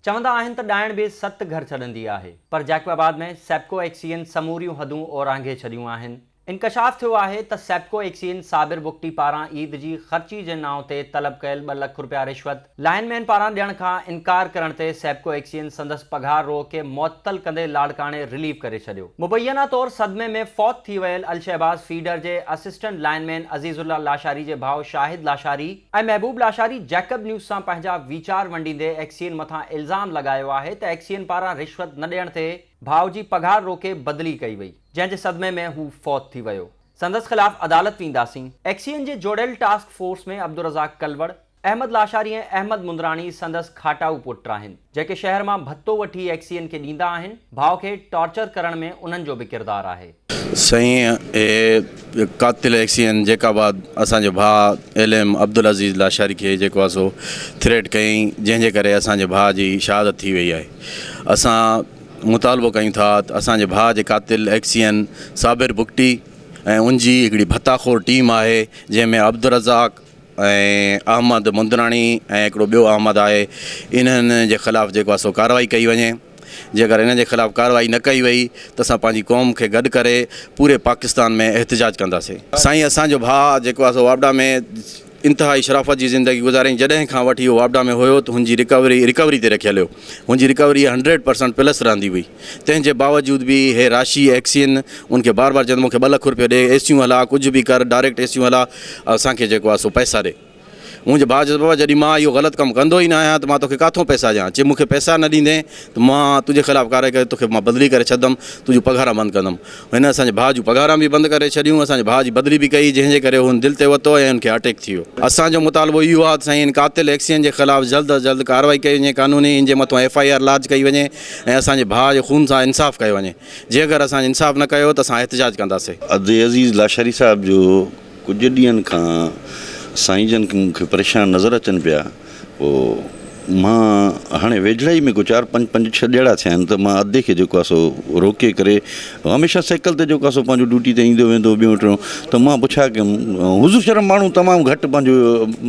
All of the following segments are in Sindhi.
چوندا آهن ته ڏائڻ به ست گهر ڇڏندي آهي پر جيڪب آباد ۾ سيپڪو ايڪسين سموريون حدون اورانگهي ڇڏيون آهن. انڪشاف ٿيو آهي ته سيپڪو ايڪسين صابر بگٽي پاران عيد جي خرچي جي نانء تي طلب ڪيل ٻه لک رپيا رشوت، لائن مين پاران ڏيڻ کان انڪار ڪرڻ تي سيپڪو ايڪسين سندس پگهار روء کي معطل ڪندي لاڙڪاڻي رليف ڪري ڇڏيو. مبينا طور صدمي ۾ فوت ٿي ويل الشهباز فيڊر جي اسسٽنٽ لائن مين عزيز الله لاشاري جي ڀاء شاهد لاشاري، اي محبوب لاشاري جيڪب نيوز سان پنهنجا ويچار ونڊيندي ايڪسين مٿان الزام لڳايو آهي ته ايڪسين پاران رشوت نه ڏيڻ تي ڀاء جي پگهار روڪي بدلي ڪئي وئي جنهن جي صدمي ۾ هو فوت ٿي ويو سندس خلاف عدالت وينداسين. ايڪسين جي جوڙيل ٽاسڪ فورس ۾ عبدالرزاق ڪلوڙ، احمد لاشاري ۽ احمد مندراڻي سندس کاٽائو پٽ آهن. جيڪي شهر مان ڀتو وٺي ايڪسين کي ڏيندا آهن، ڀاء کي ٽارچر ڪرڻ ۾ انهن جو به ڪردار آهي. سائين اهي قاتل ايڪسين جيڪا بعد اسان جي ڀاء ايل ايم عبدالعزيز لاشاري کي جيڪو آهي سو ٿريٽ ڪيائين جنهن جي ڪري اسان جي ڀاء جي شهادت ٿي وئي آهي اسان مطالبو ڪيون ٿا ته اسان جي ڀاء جي قاتل ايڪسين صابر بگٽي ۽ ان جي هڪڙي ڀتا خور ٽيم آهي جنهن ۾ عبدالرزاق ۽ احمد مندراڻي ۽ هڪڙو ٻيو احمد آهي انهن جي خلاف جيڪو آهي سو ڪارروائي ڪئي وڃي جيڪر انهن جي خلاف ڪارروائي نه ڪئي وئي ته اسان پنهنجي قوم کي گڏ ڪري پوري پاڪستان ۾ احتجاج ڪنداسين. سائين اسان جو ڀاء جيڪو آهي سو واپڊا ۾ انتهائي شرافت جي زندگي گذارين جڏهن کان وٺي هو واپڊا ۾ هيو ته هن جي رڪوري رڪوري تي رکيل هيو هن جي رڪوري هنڊريڊ پرسنٽ پلس رهندي هئي. تنهن جي باوجود به هي راشي ايڪسين ان کي بار بار چوندو مون کي ٻه لک روپيو ڏي اي سيون هلا ڪجهه به ڪر ڊائريڪٽ اي سيون هلا اسان کي جيڪو آهي سو پئسا ڏي منهنجي ڀاء چيس بابا جڏهن مان اهو غلط ڪم ڪندو ئي نه آهيان ته مان توکي ڪاٿو پئسا ڏيان چي مون کي پئسا نه ڏيندين ته مان تنهنجي خلاف ڪارروائي ڪري توکي مان بدلي ڪري ڇڏندم تنهنجون پگهاران بند ڪندم هن اسان جي ڀاء جون پگهاران به بند ڪري ڇڏيون اسان جي ڀاء جي بدلي به ڪئي جنهن جي ڪري هن دل تي وتو ۽ هن کي اٽيڪ ٿي ويو اسان جو مطالبو اهو آهي ته سائين هن قاتل ايڪسين جي خلاف جلد از جلد ڪارروائي ڪئي وڃي قانوني هن جي مٿان ايف آء آر لاج ڪئي وڃي. ۽ اسان جي ڀاء جي خون سان انصاف ڪيو وڃي جيڪر اسان انصاف نه ڪيو ته اسان احتجاج ڪنداسي. عبدالعزيز لاشاري صاحب جو ڪجهه ڏينهن کان سائين جن مون کي پريشان نظر اچن پيا پوء مان هاڻي ويجهڙائي ۾ ڪو چار پنج پنج ڇهه ڏيئڙا ٿيا آهن ته مان ادي کي جيڪو آهي سو روڪي ڪري هميشه سيڪل تي جيڪو سو پنهنجو ڊيوٽي تي ايندو ويندو ٻيون ٽيون ته مان پڇا ڪيم حضور شرم ماڻهو تمام گهٽ پنهنجو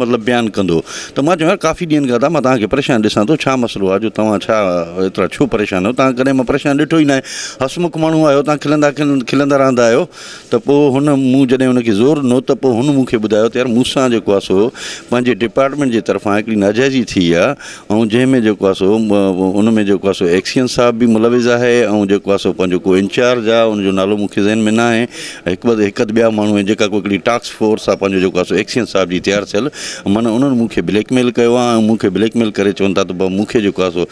مطلب بيان ڪندو ته مان چيو ڪافي ڏينهن کان ته مان توهان کي پريشان ڏسان ٿو ڇا مسئلو آهي جو توهان ڇا ايترا ڇو پريشان آهيو توهان ڪڏهن مان پريشان ڏٺو ئي ناهي حسمک ماڻهو آهيو توهان کلندا کلندا رهندا آهيو ته پوء هن مون جڏهن هن کي زور ڏنو ته پوء هن مون کي ٻڌايو ته يار مون سان جيڪو آهي سو پنهنجي ڊپارٽمينٽ جي طرفان هڪڙي ناجائزي ٿي آهي ۽ جنهن ۾ جيڪو آهي سو ان ۾ جيڪو آهي سو ايڪسين صاحب به ملوث آهي ۽ جيڪو آهي سو پنهنجو ڪو انچارج آهي ان جو نالو مونکي ذهن ۾ ناهي هڪ ٻ هڪ ادھ ٻيا ماڻهو جيڪا کو هڪڙي ٽاڪس فورس آهي پنهنجو جيڪو آهي سو ايڪسين صاحب جي تيار ٿيل معنيٰ انهن مونکي بليڪ ميل ڪيو آهي ۽ مونکي بليڪ ميل ڪري چون ٿا ته ب مونکي جيڪو آهي سو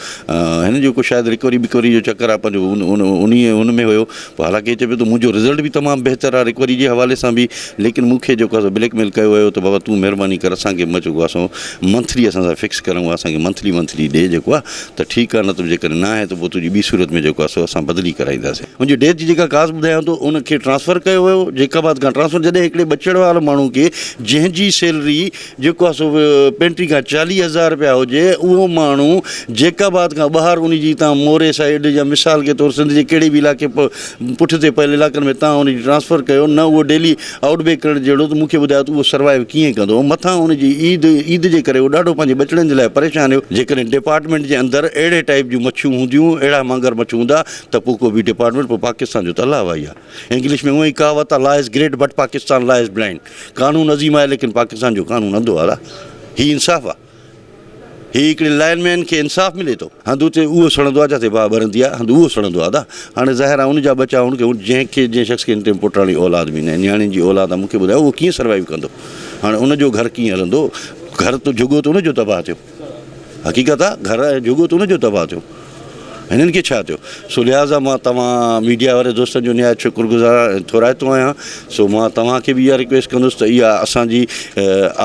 هن جو ڪو شايد رڪوري بڪوري جو چڪر آهي پنهنجو ان ان ان ان ۾ هيو حالانڪه هي چئي پيو ته منهنجو رزلٽ به تمام بهتر آهي رڪوري جي حوالي سان به ليڪن مون کي جيڪو آسو بليڪ ميل ڪيو ويو ته بابا تون مهرباني ڪر اسان کي جيڪو آسو منٿلي اسان سان فڪس ڪرڻو آهي اسان کي منٿلي منٿلي ڏي جيڪو آهي ته ٺيڪ آهي نه ته جيڪڏهن نه آهي ته پوء تنهنجي ٻي صورت ۾ جيڪو آسو اسان بدلي ڪرائينداسين ان جي ڊيٿ جي جيڪا ڪاز ٻڌايان ٿو ان کي ٽرانسفر ڪيو ويو جيڪب آباد کان ٽرانسفر جڏهن هڪڙي ٻچڙ وارو ماڻهو کي جنهن جي سيلري جيڪو آهي سو پينٽري کان چاليهه هزار رپيا هجي اهو ماڻهو جيڪب آباد کان ٻاهر ان جي تان موري سائيڊ يا مثال کي طور سنڌ جي ڪهڙي به علائقي پٺتي پيل علائقن ۾ تان ان جي ٽرانسفر ڪيو نه اهو ڊيلي آئوٽ بيڪ ڪرڻ جهڙو ته مون کي ٻڌايو ته اهو سروائيو ڪيئن ڪندو مٿان ان جي عيد عيد جي ڪري اهو ڏاڍو پنهنجي ٻچڙن جي لاء پريشان هيو جيڪڏهن ڊپارٽمينٽ جي اندر اهڙي ٽائيپ جون مڇيون هونديون اهڙا مانگر مڇ هوندا ته پوء ڪو به ڊپارٽمينٽ پوء پاڪستان جو ته الاهه وائي آهي. انگلش ۾ اونء ئي ڪهاوت آهي law is great but Pakistan law is blind قانون عظيم آهي ليڪن پاڪستان جو قانون انڌو آهي هي انصاف آهي هي هڪڙي لائن مين کي انصاف ملي ٿو. هنڌ اتي اهو سڙندو آهي جتي باهه ٻرندي آهي هنڌ اهو سڙندو آهي ادا هاڻي ظاهر آهي ان جا ٻچا هن کي جنهن کي جنهن شخص کي هن ٽيم پٽاڻي اولاد به ناهي نياڻين جي اولاد آهي مون کي ٻڌايو اهو ڪيئن سروائيو ڪندو هاڻي ان جو گهر ڪيئن هلندو گهر ته جهڳو ته ان جو تباهه ٿيو. حقيقت آ گهر ۽ جهڳو ته ان جو تباهه ٿيو هنن کي ڇا ٿيو سو لهٰذا مان توهان ميڊيا واري دوستن جو نهايت شڪر گذار ۽ ٿورائتو آهيان سو مان توهان کي به اها رڪويسٽ ڪندس ته اها اسان جي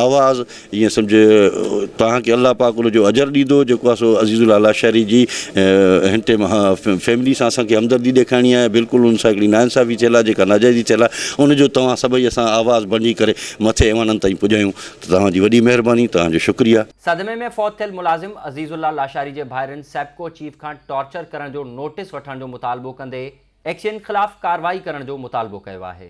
آواز ائين سمجهه توهان کي الله پاڪ ان جو اجر ڏيندو جيڪو آ سو عزيز الله لاشاري جي هن ٽيم فيملي سان اسان کي همدردي ڏيکارڻي آهي بلڪل ان سان هڪڙي ناانصافي ٿيل آ جيڪا ناجائزي ٿيل آ ان جو توهان سڀئي اسان آواز بڻجي ڪري مٿي ايوانن تائين پڄايون توهان جي وڏي مهرباني توهان جو شڪريه. صدمي ۾ فوت ٿيل ملازم عزيز الله لاشاري جي ڀائرن سيپڪو چيف کان ٽارچر ڪرڻ جو نوٽيس وٺڻ جو مطالبو ڪندي ايڪسين خلاف ڪارروائي ڪرڻ جو مطالبو ڪيو آهي.